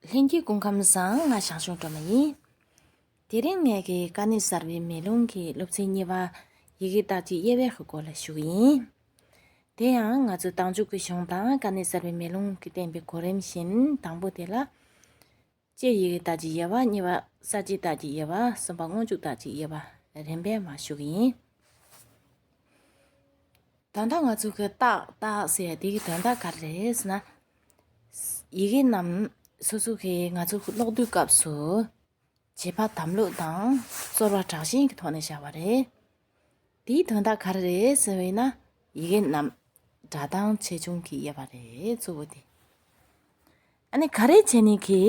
ལྷན་སྐྱེས་སྐུ་ཁམས་བཟང་ང་ཞང་ཞུང་སྒྲོལ་མ་ཡིན། དེ་རིང་ངེད་ཀྱི་དཀའ་གནད་གསར་བའི་མེ་ལོང་གི་སློབ་ཚན་གཉིས་པ། ཡི་གེ་བརྟག་བྱའི་དབྱེ་བའི་སྐོར་ལ་ཞུགས་ཡིན། དེ་ཡང་ང་ཚོས་ཏང་འཛུགས་ཀྱི་གཞུང་དང་དཀའ་གནད་གསར་བའི་མེ་ལོང་གི་བསྟན་པའི་གོ་རིམ་བཞིན་དང་པོ་དེ་ལ། དཔྱད་ཡི་གེ་བརྟག་བྱའི་དབྱེ་བ་གཉིས་པ་གསར་བརྗེ་བརྟག་བྱའི་དབྱེ་བ་གསུམ་པ་སྔོན་འཇུག་བརྟག་བྱའི་དབྱེ་བ་རིམ་པས་མ་ཞུགས་ཡིན། དོན་དག་ང་ཚོས་ཀྱི་ཏག་ཏག་ཟེར་དེའི་དོན་དག་ག་རེ་རེད་ཟེར་ན། ཡི་གེ་རྣམས་སོ་སོ་གི་ང་ཚོ་གློག་རྡུལ་སྐབས་སུ་བྱེད་པ་དམ་ལུགས་དང་གསོར་བ་དྲག་ཞན་གྱི་ཐོག་ནས་བྱ་བ་རེད། དེའི་དོན་དག་ག་རེ་རེད་ཟེར་བས་ན་ཡི་གེ་རྣམས་སྒྲ་གདངས་ཆེ་ཆུང་གི་དབྱེ་བ་རེད་གཙོ་བོ་དེ། ཨ་ནི་ག་རེ་བྱས་ནས་གི་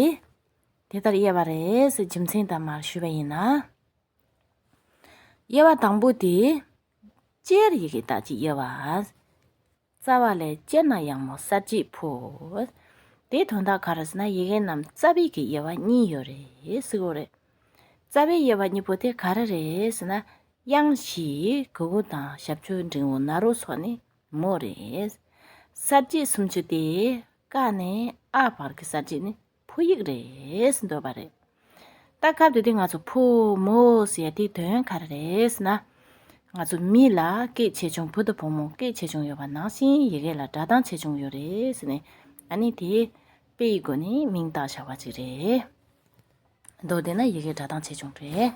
དེ་ལྟར་དབྱེ་བ་རེད་ཟེར་རྒྱུ་མཚན་དང་མར་ཞུས་པ་ཡིན་ན། དབྱེ་བ་དང་པོ་དེ། སྤྱིར་ཡི་གེ་དག་གི་དབྱེ་བ། རྩ་བ་ལས་དཔྱད་ན་ཡང་མོ་གསར་བརྗེའི་ཕུལ། དེའི་དོན་དག་གང་རེད་ཟེར་ན་ཡི་གེ་རྣམས་རྩ་བའི་གི་དབྱེ་བ་གཉིས་ཡོད་རེད་ཟེར་གོ། རེད། རྩ་བའི་དབྱེ་བ་གཉིས་པོ་དེ་ག་རེ་རེད་ཟེར་ན། དབྱངས་བཞི་གུ་གུ་དང་ཞབས་ཆོས་འབྲིང་བོ་ན་རོ་སོགས་ནི་མོ་རེད། གསར་བརྗེའི་སུམ་ཅུ་སྟེ། ཀ་ནས་ཨ་བར་གྱི་གསར་བརྗེ་ནི། ཕོ་ཡིག་རེད་འདོད་པ་རེད། ད་སྐབས་དེ་དུས་ང་ཚོ་ཕོ་མོ་ཟེར་ཡ་དེའི་དོན་ག་རེ་རེད་ན། ང་ཚོ་མི་ལ་སྐད་ཆེ་ཆུང་བུ་དང་བུ་མོ་སྐད་ཆེ་ཆུང་ཡོད་པ་ནང་བཞིན་ཡི་གེ་ལ་སྒྲ་གདངས་ཆེ་ཆུང་ཡོད་རེད་ནི། ཨ་ནི་དེ་དཔེ་ཡི་སྒོ་ནས་མིང་བཏགས་བྱ་བ་ཅིག་རེད། མདོར་དེད་ན་ཡི་གེ་སྒྲ་གདངས་ཆེ་ཆུང་རེད།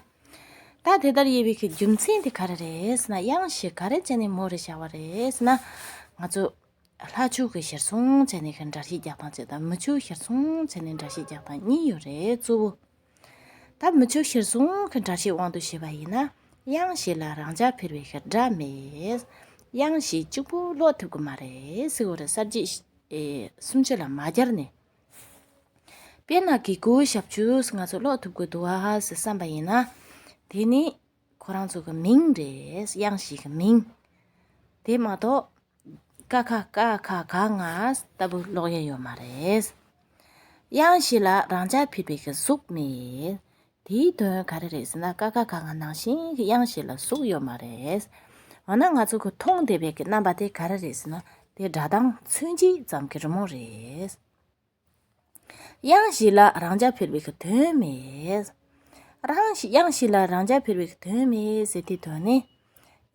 ད་དེ་ལྟར་དབྱེ་བའི་ཁའི་རྒྱུ་མཚན་དེ་ག་རེ་རེད་ན་དབྱངས་ཞེས་ག་རེ་བྱས་ནས་མོ་རེ་བྱ་བ་རེད་ན། ང་ཚོ་ལྷ་བཅུ་གི་ཞེར་སོང་བྱས་ནས་ཀྱང་འདྲ་བཞི་བརྒྱག་དང་ཅེས་དང་མི་བཅུ་ཞེར་སོང་བྱས་ནས་འདྲ་བཞི་བརྒྱག་དང་གཉིས་ཡོད་རེད་གཙོ་བོ། ད་མི་བཅུ་ཞེར་སོང་གི་འདྲ་བཞི་དབང་དུ་བྱས་པ་ཡིན་ན་དབྱངས་བཞི་ལ་རང་འཇགས་འཕེར་བའི་ཤར་སྒྲ་མེད། དབྱངས་བཞི་གཅིག་པུ་ཀློག་ཐུབ་ཀྱི་མ་རེད་སིག་འོ་རེད་གསར་བརྗེ། སུམ་བཅུ་ལ་མ་བསྐྱར་ནས། དཔེར་ན་གི་གུ་ཞབས་ཆུ་ང་ཚོ་ཀློག་ཐུབ་ཀྱི་འདུག་ཨ་ཟེར་བསམ་པ་ཡིན་ན། དེ་ནི་ཁོ་རང་ཚོ་གི་མིང་རེད་དབྱངས་བཞི་གི་མིང། དེ་མ་གཏོགས། ཀ་ཁ་ཀ་ཁ་ག་ང་ལྟ་བུ་ཀློག་ཡས་ཡོད་མ་རེད། དབྱངས་བཞི་ལ་རང་འཇགས་ཕུད་པའི་གཟུགས་མེད། དེའི་དོན་ག་རེ་རེད་ཟེར་ན་ཀ་ཁ་ག་ང་ནང་བཞིན་གྱི་དབྱངས་བཞི་ལ་གཟུགས་ཡོད་མ་རེད། འོ་ན་ང་ཚོ་གི་མཐོང་བདེ་བའི་གི་རྣམ་པ་དེ་ག་རེ་རེད་ཟེར་ན་དེ་སྒྲ་གདངས་ཚོན་གྱིས་ཙམ་གྱི་རི་མོ་རེད། དབྱངས་ཞིག་ལ་རང་རྐྱ་འཕེར་བའི་གི་དོན་མེད། རང་ཞིག་དབྱངས་ཞིག་ལ་རང་རྐྱ་འཕེར་བའི་གི་དོན་མེད་ཟེར་དེའི་དོན་ནི།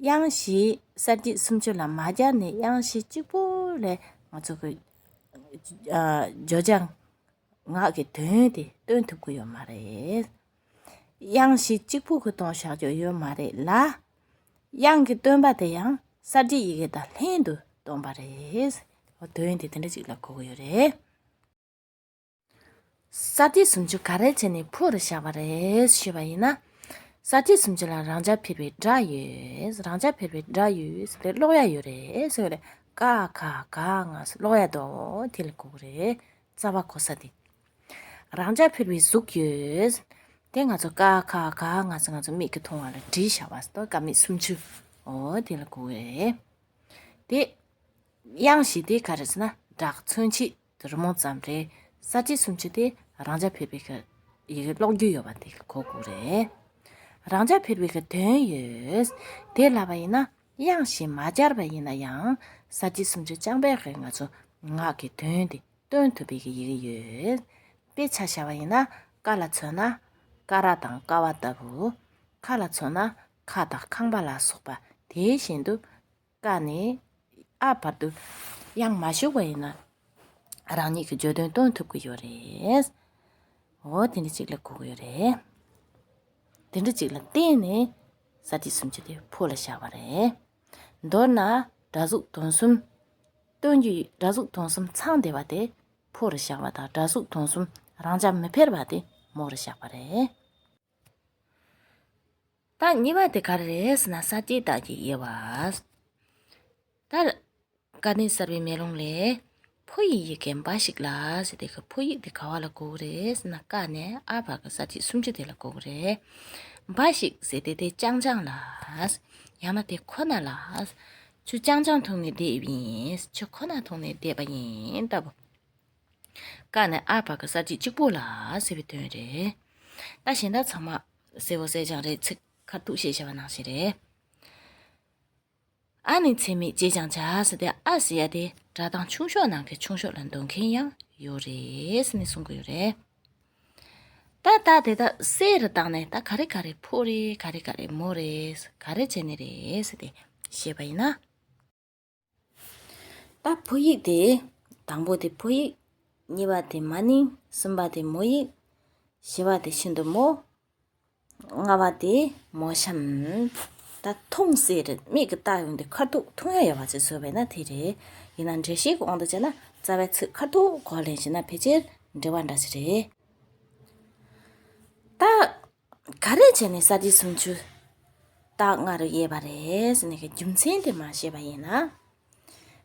དབྱངས་ཞིག་གསར་སྐྱེས་སུམ་ཅུ་ལ་མ་སྦྱར་ནས་དབྱངས་ཞིག་གཅིག་པོ་ལས་ང་ཚོ་གི། བརྗོད་བྱ་ངག་གི་དོན་དེ་སྟོན་ཐུབ་ཀྱི་ཡོད་མ་རེད། དབྱངས་གཞི་གཅིག་པུ་གི་སྟོང་བཤགས་རྒྱུ་ཡོད་མ་རེད་ལ། དབྱངས་ཀྱི་སྟོན་པ་དེ་ཡང་གསར་བརྗེའི་ཡི་གེ་དང་ལྷན་དུ་སྟོན་པ་རེད། དོན་དེ་དེ་འདྲ་ཅིག་ལ་གོ་གི་ཡོད་རེད། གསར་བརྗེ་སུམ་ཅུ་ག་རེ་བྱས་ནས་ཕུལ་བར་བཞག་པ་རེད་ཞུས་པ་ཡིན་ན། གསར་བརྗེ་སུམ་ཅུ་ལ་རང་རྐྱ་འཕེར་བའི་སྒྲ་ཡོད། རང་རྐྱ་འཕེར་བའི་སྒྲ་ཡོད་ཟེར་ཏེ་ཀློག་ཡ་ཡོད་རེད་ཟེར་བས། ཀ་ཁ་ག་ང་སོགས་ཀློག་ཡ་འདུག་དེ་ལ་གོ་གི་རེད། རྩ་བ་གོ་ས་དེ། རང་ཅག་ཕུར་བའི་གཟུགས་ཡོད། དེ་ང་ཚོ་ཀ་ཁ་ག་ང་ཚོ་ང་ཚོ་མིག་གིས་མཐོང་བ་ལ་དྲི་བྱ་བ་སྟོ་ཀ་མིག་སུམ་ཅུ་འོ་དེ་ལ་གོ་བས། དེ་དབྱངས་བཞི་དེ་ག་རེ་ཟེར་ན་སྒྲ་མཚོན་བྱེད་དུ་རི་མོ་ཙམ་རེད་ས་བཅད་སུམ་ཅུ་དེ་རང་ཅག་ཕུར་བའི་གི་ཡི་གེ་ཀློག་རྒྱུ་ཡོད་པ་དེ་གོ་དགོས་རེད། རང་ཅག་ཕུར་བའི་གི་དོན་ཡོད། དེ་ལ་བ་ཡིན་ན་དབྱངས་བཞི་མ་སྦྱར་བ་ཡིན་ན་ཡང་ས་བཅད་སུམ་ཅུ་རྐྱང་པའི་གི་ང་ཚོ་ངག་གི་དོན་དེ་སྟོན་དུ་འབིགས་ཡི་གེ་ཡོད། དཔེ་ཆ་བྱ་བ་ཡིན་ན་ཀ་ལ་མཚོན་ན་ཀ་ར་དང་ཀ་བ་ལྟ་བུ། ཁ་ལ་མཚོན་ན་ཁ་དང་ཁང་པ་ལ་སོགས་པ་དེ་བཞིན་དུ། ཀ་ནས་ཨ་བར་དུ་ཡང་མ་ཞུགས་པ་ཡིན་ན། རང་ཉིད་ཀྱི་བརྗོད་དོན་སྟོན་ཐུབ་ཀྱི་ཡོད་རེད། འོ་དེ་འདྲ་ཅིག་ལ་གོ་གི་ཡོད་རེད། དེ་འདྲ་ཅིག་ལ་བརྟེན་ནས་ས་བྲིས་སུམ་ཅུ་དེ་ཕོ་ལ་བཞག་པ་རེད། མདོར་ན་སྒྲ་གཟུགས་དོན་གསུམ། སྟོན་གྱི་སྒྲ་གཟུགས་དོན་གསུམ་ཚང་བདེ་བ་དེ་ཕོ་རུ་བཞག་པ་དང་སྒྲ་གཟུགས་དོན་གསུམ་རང་ཅག་མི་ཕལ་བ་དེ་མོ་རུ་བཞག་པ་རེད། ད་གཉིས་པ་དེ་ག་རེ་རེད་ཟེར་ན་ས་སྐྱེས་བདག་སྐྱེས་དབྱེ་བ། ད། དཀའ་གནད་གསར་པའི་མེ་ལོང་ལས། ཕོ་ཡི་ཡི་གེ་འབའ་ཞིག་ལ། ཞེས་དེ་ག་ཕོ་ཡིག་དེ་ག་བ་ལ་གོ་བོ་རེད་ཟེར་ན་ཀ་ནས་ཨ་བར་གྱི་ས་བཅད་སུམ་ཅུ་དེ་ལ་གོ་བོ་རེད། འབའ་ཞིག་ཟེར་དེ་དེ་རྐྱང་རྐྱང་ལ། ཡང་ན་དེ་ཁོ་ན་ལ། ཆུ་རྐྱང་རྐྱང་འཐུང་ནས་བསྡད་ཡིན། ཆུ་ཁོ་ན་འཐུང་ནས་བསྡད་པ་ཡིན་ལྟ་བུ། ཀ་ནས་ཨ་བར་གྱི་ས་བཅད་གཅིག་པོ་ལ་ཟེར་བའི་དོན་རེད། ད་གཞན་དག་ཚང་མ་གསལ་བོ་གསལ་རྐྱང་རེད་ཚིག་ཁ་ཐུག་བཤད་བྱ་བ་ནང་བཞིན་རེད། ཨ་ནི་འཚེ་མེད་ཅེས་ཀྱང་བྱ་སྟེ་ཨ་ཟེར་ཡ་དེ་སྒྲ་གདངས་ཆུང་ཤོས་ནང་གི་ཆུང་ཤོས་ལ་འདོན་མཁན་ཡང་ཡོད་རེད་ནི་གསུང་གི་ཡོད་རེད། ད་རྟགས་དེ་དག་གསལ་རེ་བཏང་ནས་ད་ག་རེ་ག་རེ་ཕོ་རེད་ག་རེ་ག་རེ་མོ་རེད་ག་རེ་བྱས་ནི་རེད་ཟེར་ཏེ་བཤད་པ་ཡིན་ན། ད་ཕོ་ཡིག་དེ་དང་པོ་དེ་ཕོ་ཡིག། གཉིས་པ་དེ་མ་ནིང་གསུམ་པ་དེ་མོ་ཡིག། བཞི་བ་དེ་ཤིན་ཏུ་མོ། ལྔ་བ་སྟེ། མོ་གཤམ། ད་ཐུངས་ཟེར་མིག་གིས་བལྟ་ཡོང་དུས་ཁར་ཐུག་ཐུག་ཡ་ཡ་བ་ཅིག་བཟོས་པས་ན་དེ་རེད། ཡིན་ན་འདྲེ་ཞིག་འོང་དུ་བཅས་ན་རྩ་བའི་ཚིག་ཁར་ཐུག་གོ་ལེན་བྱས་ན་ཕལ་ཆེར་འདྲེ་བ་འདྲ་ཞིག་རེད། རྟགས་ག་རེ་བྱས་ནས་གསར་བརྗེའི་སུམ་ཅུ་རྟགས་ལྔ་རུ་དབྱེ་བ་རེད་ཟེར་ནས་ཀྱི་རྒྱུ་མཚན་དེ་མ་ཤེས་པ་ཡིན་ན།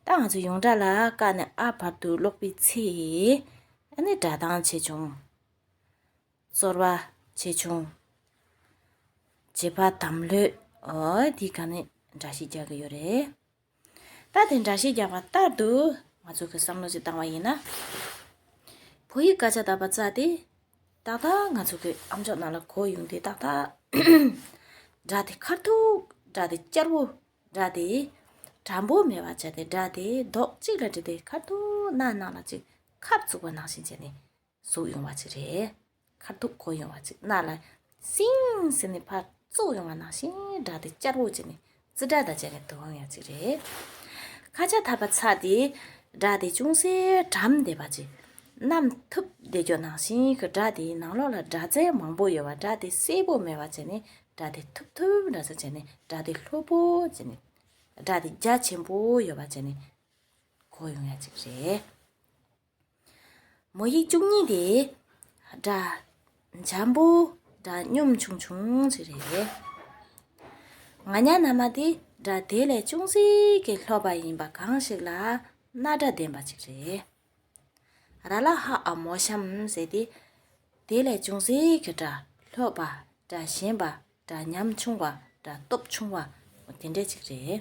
ད་ང་ཚོ་ཡོངས་གྲགས་ལ་བཀའ་ནས་ཨ་བར་དུ་ཀློག་པའི་ཚེ། ཨ་ནི་སྒྲ་གདངས་ཆེ་ཆུང། གསོལ་བ། ཆེ་ཆུང། བྱེད་པ་དམ་ལྷོད། འོ་དེ་ག་ནས་འདྲ་ཞིག་རྒྱག་གི་ཡོད་རེད། ད་དེ་འདྲ་ཞིག་རྒྱག་པ་ལྟར་དུ་ང་ཚོ་གི་བསམ་བློ་ཞིག་བཏང་བ་ཡིན་ན། བོད་ཡིག་སྐད་ཆ་དག་པ་རྩ་དེ་ཏག་ཏག་ང་ཚོ་གི་ཨམ་ཅོག་ནང་ལ་གོ་ཡོང་དེ་ཏག་ཏག་སྒྲ་དེ་ཁར་ཐུག་སྒྲ་དེ་སྐྱར་བོ་སྒྲ་དེ་དྲང་པོ་མེད་པ་བྱས་ཏེ་སྒྲ་དེ་རྡོག་གཅིག་ལ་བསྒྲིལ་ཏེ་ཁར་ཐུག་ནང་ནང་ལ་ཅིག་ཁབ་བཙུགས་པ་ནང་བཞིན་བྱས་ནས་གཟུགས་ཡོང་བ་ཅིག་རེད། མཁར་ཐུག་གོ་ཡོང་བ་ཅིག་རྣ་ལ་སིང་ཟེར་ནས་ཕར་ཙོག་ཡོང་བ་ནང་བཞིན་སྒྲ་དེ་བསྐྱར་བོ་བྱས་ནས་ཙི་སྒྲ་དང་བཅས་པའི་དུ་འོང་ཡོང་ཅིག་རེད། ཁ་ཆ་ཐབ་པ་ཚ་དེས་སྒྲ་དེ་ཅུང་ཟད་དྲམ་བསྡད་པ་ཅིག་ནམ་ཐུབ་བདེ་སྐྱོ་ནང་བཞིན་གྱི་སྒྲ་དེའི་ནང་ལོགས་ལ་སྒྲ་རྫས་མང་བོ་ཡོད་པ་སྒྲ་དེ་སེར་བོ་མེད་པ་བྱས་ནས་སྒྲ་དེ་ཐུབ་ཐུབ་འདྲ་ས་བྱས་ནས་སྒྲ་དེ་ལྷོད་བོ་བྱས་ནས་སྒྲ་དེ་རྒྱ་ཆེན་པོ་ཡོད་པ་བྱས་ནས་གོ་ཡོང་ཡ་ཅིག་རེད། མོ་ཡིག་བཅུ་གཉིས་ཏེ། སྒྲ། འཇམ་པོ། སྒྲ་སྙོམས་ཆུང་ཆུང་ཅིག་རེད། ང་ཉྭ་ན་མ་དེ་སྒྲ་དེ་ལས་ཅུང་ཟད་ཀྱིས་ལྷོད་པ་ཡིན་པ་གང་ཞིག་ལ་རྣ་སྒྲ་ལྡན་པ་ཅིག་རེད། ར་ལ་ཧ་ཨ་མོ་ཤམ་ཟེར་ཏེ། དེ་ལས་ཅུང་ཟད་ཀྱིས་སྒྲ་ལྷོད་པ། སྒྲ་ཞན་པ། སྒྲ་ཉམས་ཆུང་བ། སྒྲ་སྟོབས་ཆུང་བ། དེ་འདྲ་ཅིག་རེད།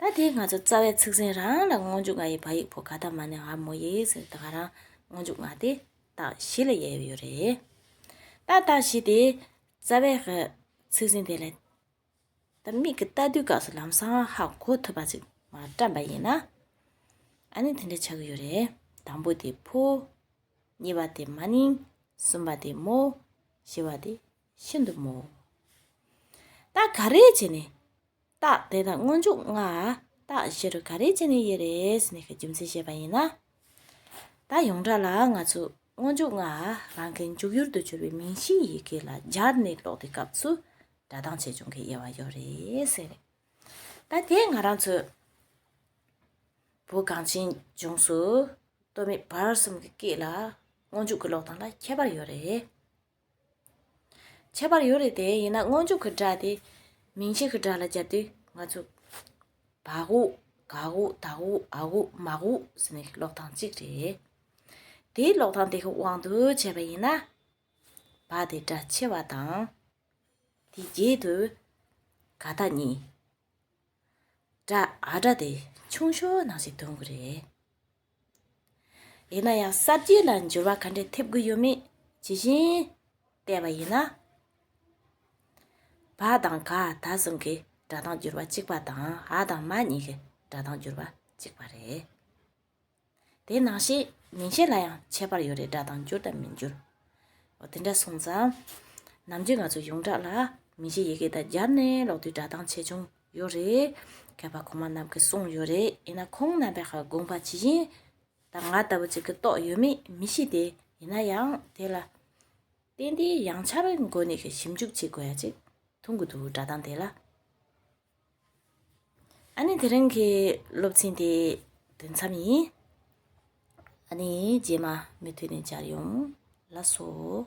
ད་དེ་ང་ཚོ་རྩ་བའི་ཚིག་ཟིན་རང་ལ་སྔོན་འཇུག་ང་ཡི་བ་ཡིག་བོ་ག་ད་མ་ནི་ང་མོ་ཡི་ཟེར་ད་ག་རང་སྔོན་འཇུག་ང་དེ་དག་བཞི་ལ་དབྱེ་ཡོད་རེད། ད་དག་བཞི་དེ་རྩ་བའི་ཚིག་ཟིན་དེ་ལས་ད་མིག་གི་ལྟ་དུས་སྐབས་སུ་ལམ་སང་ཧ་གོ་ཐུབ་པ་ཅིག་མ་བཀྲམ་པ་ཡིན་ན་ཨ་ནི་དེ་འདྲ་བྱ་གི་ཡོད་རེད་དང་པོ་དེ་བོ། གཉིས་པ་དེ་མ་ནིང། གསུམ་པ་དེ་མོ། བཞི་བ་དེ་ཤིན་ཏུ་མོ། ད་ག་རེ་བྱས་ནས་རྟགས་དེ་དང་སྔོན་འཇུག་ལྔ། རྟགས་བཞི་རུ་ག་རེ་བྱས་ནས་ཡོད་རེད་ནི་རྒྱུ་མཚན་བཤད་པ་ཡིན་ན། ད་ཡོངས་གྲགས་ལ་ང་ཚོས་སྔོན་འཇུག་ལྔ་རང་གི་འཇུག་ཡུལ་དུ་གྱུར་པའི་མིང་གཞིའི་ཡི་གེ་ལ་སྦྱར་ནས་ཀློག་པའི་སྐབས་སུ་སྒྲ་གདངས་ཆེ་ཆུང་གི་དབྱེ་བ་ཡོད་རེད་ཟེར་རེད། ད་དེ་ང་རང་ཚོས་བོད་གངས་ཅན་ལྗོངས་སུ་སྟོད་སྨད་བར་གསུམ་གྱི་སྐད་ལ་སྔོན་འཇུག་གི་ཀློག་སྟངས་ལ་ཁྱད་པར་ཡོད་རེད། ཁྱད་པར་ཡོད་རེད་དེ་ཡིན་ན་སྔོན་འཇུག་གི་སྒྲ་དེ་མིང་ཕྱེད་ཀྱི་སྒྲ་ལ་བརྒྱབ་དུས་ང་ཚོས། བག་འུག། གག་འུག་དག་འུག་ཨག་འུག་མག་འུག་ཟེར་ནི་ཀློག་སྟངས་གཅིག་རེད། དེའི་ཀློག་སྟངས་དེ་གི་དབང་དུ་བྱས་པ་ཡིན་ན། བ་དེ་སྒྲ་ཆེ་བ་དང། དེའི་རྗེས་དུ། ག་ད་གཉིས། སྒྲ་ཨ་སྒྲ་དེ་ཆུང་ཤོས་ནང་བཞིན་འདོན་གི་རེད། ཡིན་ན་ཡང་གསར་བརྗེ་ལ་འགྱུར་བ་ག་འདྲས་ཐེབས་དགོས་ཡོད་མེད་ཇི་བཞིན་བལྟས་པ་ཡིན་ན། བ་དང་ག་ད་གསུམ་གྱི་སྒྲ་གདངས་འགྱུར་བ་གཅིག་པ་དང་ཨ་དང་མ་གཉིས་ཀྱི་སྒྲ་གདངས་འགྱུར་བ་གཅིག་པ་རེད། དེ་ནང་བཤད་མིང་བཤད་ལ་ཡང་ཁྱད་པར་ཡོད་རེད་སྒྲ་གདངས་འགྱུར་དང་མི་འགྱུར། འོ་དེ་འདྲ་སོང་ཙང། ནམ་རྒྱུན་ང་ཚོ་ཡོངས་གྲགས་ལ་མིང་གཞི་ཡི་གེ་དང་སྦྱར་ནས་ཀློག་དུས་སྒྲ་གདངས་ཆེ་ཆུང་ཡོད་རེད། མཁས་པ་གོང་མ་རྣམས་ཀྱིས་གསུངས་ཡོད་རེད་ཡིན་ན་ཁོང་རྣམ་པས་དགོངས་པ་ཇི་བཞིན་དང་ང་ལྟ་བུ་ཅིག་གིས་རྟོགས་ཡོད་མེད་མི་ཤེས་ཏེ་ཡིན་ན་ཡང་དེ་ལ་བརྟེན་ཏེ་ཡང་ཆ་བའི་སྒོ་ནས་ཞིབ་འཇུག་བྱེད་དགོས་ཡ་ཅིག་མཐོང་གི་འདུག་སྒྲ་གདངས་དེ་ལ། ཨ་ནི་དེ་རིང་གི་སློབ་ཚན་དེ་དུས་མཚམས་ཡིན། ཨ་ནི་རྗེས་མ་མུ་མཐུད་ནས་སྦྱར་ཡོང་ལགས་སོ།